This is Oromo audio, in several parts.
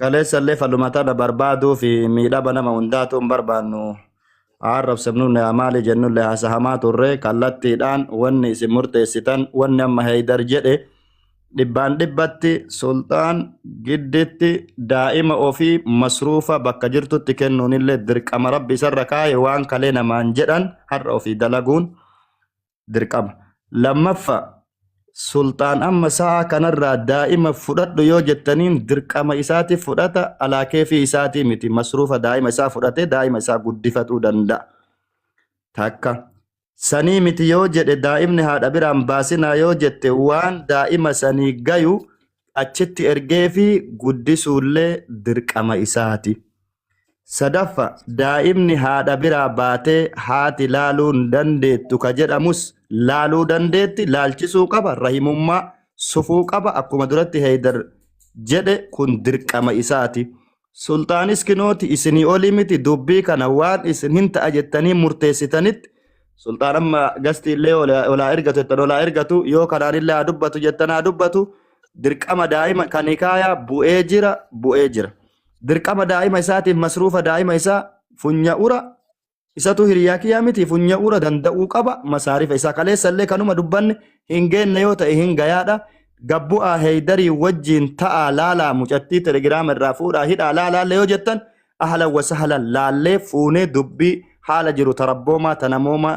Kaleessa illee falmataa barbaaduu fi miidhama nama hundaatu hin barbaannu. Arrabsamnu yaa maali jennu illee haasahamaa turre kallattiidhaan wanni isin murteessitan wanni amma Heeydar jedhe dhibbaan dhibbatti sulxaan gidditti daa'ima ofii masruufa bakka jirtutti kennuun illee dirqama rabbi isarra kaa'e waan kalee namaan jedhan har'a ofii dalaguun dirqama. Lammaffa sulxaan amma sa'a kanarraa daa'ima fudhadhu yoo jettaniin dirqama isaati fudhata alaa keefii isaatii miti masruufa daa'ima isaa fudhatee daa'ima isaa guddifatuu danda'a. Takka sanii miti yoo jedhe daa'imni haadha biraan baasinaa yoo jette waan daa'ima sanii gayu achitti ergee fi guddisuullee dirqama isaati. Sadaffa daa'imni haadha biraa baatee haati laaluu hin dandeettu ka jedhamus laaluu dandeetti laalchisuu qaba rahimummaa sufuu qaba akkuma duratti heeydar jedhe kun dirqama isaati. Sulxaanis kinooti isinii olii miti dubbii kana waan isin hin ta'a jettanii murteessitanitti sulxaan amma gastii illee olaa ergatu jettan olaa ergatu yoo kanaan illee haa dubbatu jettan haa dubbatu dirqama daa'ima kan hikaayaa bu'ee jira bu'ee jira. Dirqama daa'ima isaatiif masruufa daa'ima isaa funya'ura isatu hiriyaa kiyyaa miti funya'ura danda'uu qaba masaarifa isaa kaleessa illee kanuma dubbanne hin geenne yoo ta'e hin gayaadha gabbu'aa heeydarii wajjiin ta'aa laalaa mucattii telegiraama irraa fuudhaa hidhaa laalaalle yoo jettan ahlan wasahlan laallee fuunee dubbii haala jiru tarabboomaa tanamoomaa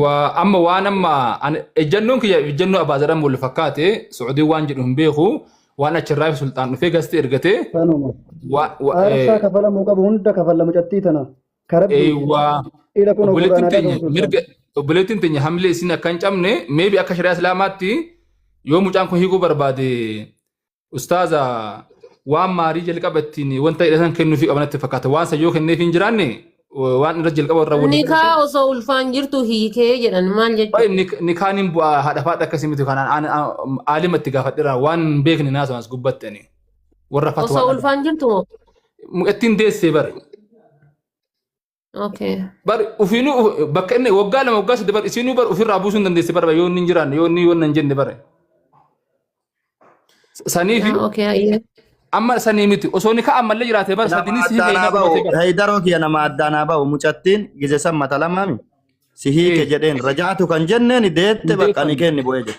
Waa amma waan amma ani ejjannoon kiyya ejjannoo abbaa jedhamu wal fakkaate Suudiin waan jedhu hin beeku waan achirraa fi sulxaan dhufee gasti ergate Kanuma. waa waa Aarsaa kafalamuu qabu hunda kafalla mucattii tana. Karabbii. eewwaa Ila kun obboleettiin Qur'aanaa teenya qabu mirga obboleettiin teenya hamlee isin akka hin cabne meebi akka shari'aa islaamaatti yoo mucaan kun hiikuu barbaade Ustaaza waan maarii jalqaba ittiin wanta hidhatan kennuufii qaban natti fakkaata. Waan san yoo kenneefii hin jiraanne wa- waan irra jalqaba irra waliin Nikaa osoo ulfaan jirtu hiikee jedhan maal jechuudha? Baay'ee nik- nikaan hin bu'aa haadha faadha akkasii miti kanaan aan- aan- aalima itti gaafadheera waan hin beekne naasuun as gubbatti ani. Warra Osoo fatwaa ulfaan jirtu moo? ittiin deessee bara. Okay. bar ufiinuu uf- bakka inni waggaa lama waggaa sadde bar isiinuu bar ofirraa buusuu hin dandeessi bar yoo inni hin jiraanne yoo inni wanna hin jenne bar saniifi Ah, okay. Ayyee. amma sanii miti osoo ni ka'an mallee jiraate bar nama sadinis hiika addaanaa isaa ba'u qabatee bar heeydaroo kiyya nama addaanaa ba'u mucattiin gise san mata lamaami si hiike ee jedheen rajaatu kan jenneen deette hin bakka ni deefamne kenni bu'ee jedhe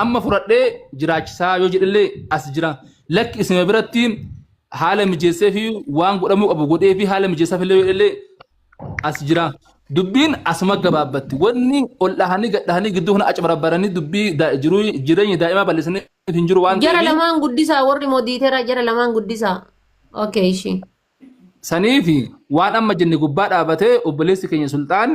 Amma fudhadhee jiraachisaa yoo jedhellee as jira. Lakki isuma biratti haala mijeessee fi waan godhamuu qabu godhee fi haala mijeessaaf illee yoo jedhellee as jira. Dubbiin asuma gabaabbatti. Wanni ol dhahanii gad dhahanii gidduu kana acbarabaranii dubbii daa- jiruu jireenya daa'imaa balleessanii hin jiru waan Jara ta'eef lamaan guddisaa warri modiitera jara lamaan guddisaa. Okay, ishii. saniif waan amma jenne gubbaa dhaabatee obboleessi keenya sulxaan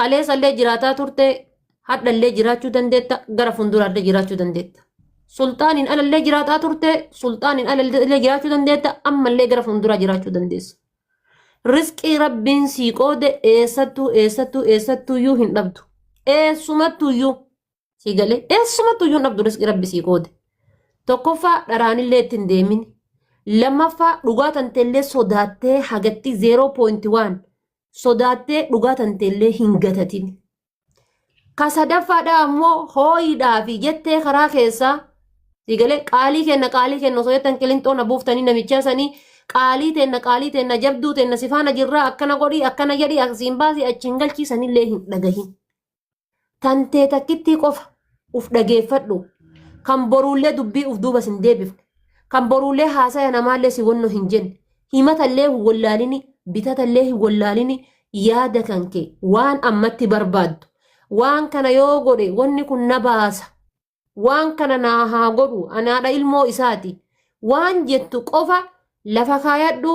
Kaleessa illee jiraataa turte, hadha illee jiraachuu dandeetta, gara fuulduraa illee jiraachuu dandeetta. Sulxaaniin ala illee jiraataa turte, sulxaaniin ala illee jiraachuu dandeetta, amma illee gara fuulduraa jiraachuu dandeessa. Risqii rabbiin sii qoode eessattuu eessattuu eessattuuyyuu hin dhabdu. Eessumattuuyyuu. sii galee eessumattuu iyyuu hin dhabdu risqii rabbi sii qoode tokkoffaa dharaanillee itti hin deemin lammaffaa dhugaa tanteellee sodaattee hagatti 0.1 sodaattee dhugaa tanteellee hin gatatin ka sadaffaadhaa ammoo hooyidhaa fi jettee karaa keessaa sii galee qaalii kenna qaalii kenna osoo jettan qilinxoo na buuftanii namichaa sanii qaalii teenna qaalii teenna jabduu teenna sifaana jirraa akkana godhii akkana jedhii asiin baasii achiin galchiisanillee hin dhagahin. tantee takkittii qofa uf dhageeffadhu kan boruullee dubbii uf duuba sin deebifne kan boruullee haasaya namaallee si wonno hin jenne himatallee hin wollaalini bitatallee hin wollaalini yaada kan kee waan ammatti barbaaddu waan kana yoo godhe wonni kun na baasa waan kana naa haa godhu anaadha ilmoo isaati waan jettu qofa lafa kaayadhu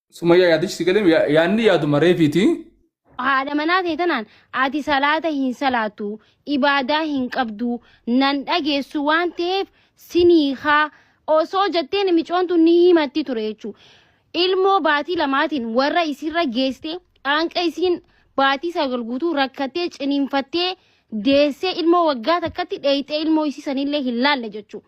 Sumayyaa yaadichi si galee yaadni yaaduma reefiiti. haadha manaa ta'e tanaan ati salaata hin salaatu ibaadaa hin qabdu nan dhageessu waan ta'eef sinii haa osoo jetteen micoontu ni himatti ture jechuudha. Ilmoo baatii lamaatiin warra isirra geessite qaanqa isiin baatii sagal guutuu rakkattee ciniinfattee deessee ilmoo waggaa takkatti dheeyxee ilmoo isii sanillee hin laalle jechuudha.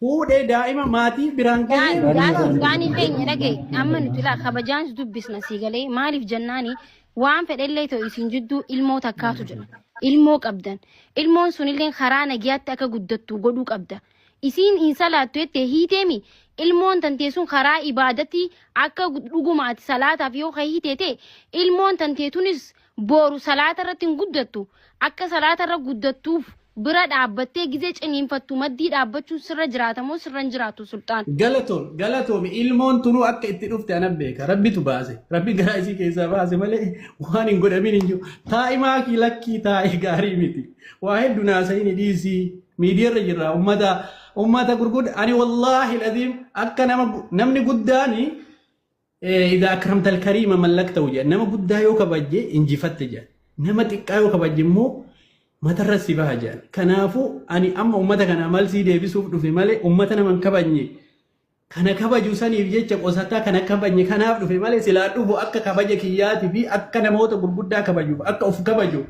Fuudhee daa'ima maatii biraan gahee Daan daan murtaa'e. daanii keenya dhaga'i amma nuti ilaa kabajaan si dubbisna sii galee maaliif jennaani waan fedhellee ta'u isin jidduu ilmoo takkaatu jira ilmoo qabdan ilmoon sunillee karaa nagiyaatti akka guddattu godhuu qabda isiin hin salaattu jettee hiiteemi ilmoon tantee sun karaa ibaadatti akka dhugumaati salaataaf yoo ka hiitee ta'e ilmoon tantee tunis Booru salaata irratti hin guddattu. Akka salaata irra guddattuuf bira dhaabbattee gizee ciniinfattu maddii dhaabbachuun sirra jiraata moo sirra hin jiraatu Sulxaan? Galatomi galatomi ilmoon tunuu akka itti dhufte anan beeka rabbitu baase rabbi garaa isii keessaa baase malee waan hin godhamin hin jiru taa'i maakii lakkii taa'i gaarii miti waa heddu naasa'ini dhiisii miidiyarra jirra ummata ummata gurgudda ani wallaahi laziim akka nama namni guddaani Idaa akramta alkariima mallaktahu jedha. Nama guddaa yoo kabajje injifatte jedha. Nama xiqqaa yoo kabajje immoo matarra si baha jedhan. Kanaafuu ani amma uummata kanaa maal sii deebisuuf dhufe malee uummata nama hin kabajne kana kabaju saniif jecha qosataa kana kabajne kanaaf dhufe malee silaa dhufu akka kabaja kiyyaatii fi akka namoota gurguddaa kabajuuf akka of kabaju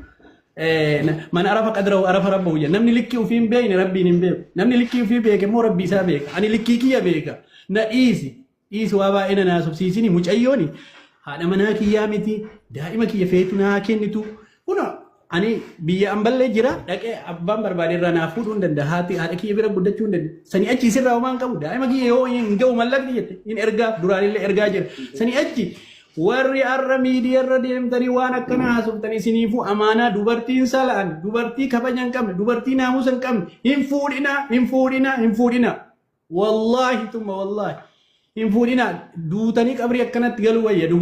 man arafa qadrahu arafa rabbahu jedha. Namni likkii ofii hin beekne rabbiin hin beeku. Namni likkii ofii beeke immoo rabbii isaa beeka. Ani likkii kiyya beeka. Na dhiisi. Dhiisi waa baay'ee na naasofsiisini mucayyooni haadha manaa kiyyaa miti daa'ima kiyya feetu naa kennitu kuno ani biyya amballee jira dhaqee abbaan barbaade irraa naa fuudhuu hin danda'a haati haadha kiyya bira guddachuu hin danda'a sanii achi isirraa homaa hin qabu daa'ima kiyya yoo hin ga'u mallaqni jette hin ergaaf duraanillee ergaa jira sanii achi warri har'a miidiyaa irra deemtanii waan akkana haasoftan isiniifuu amaanaa dubartiin sala'an dubartii kabaja hin qabne dubartii naamusa hin qabne hin fuudhinaa hin fuudhinaa hin fuudhinaa. Wallaahi tuma wallaahi hin fuudhinaa duutanii qabrii akkanatti galuu wayya dhugaa.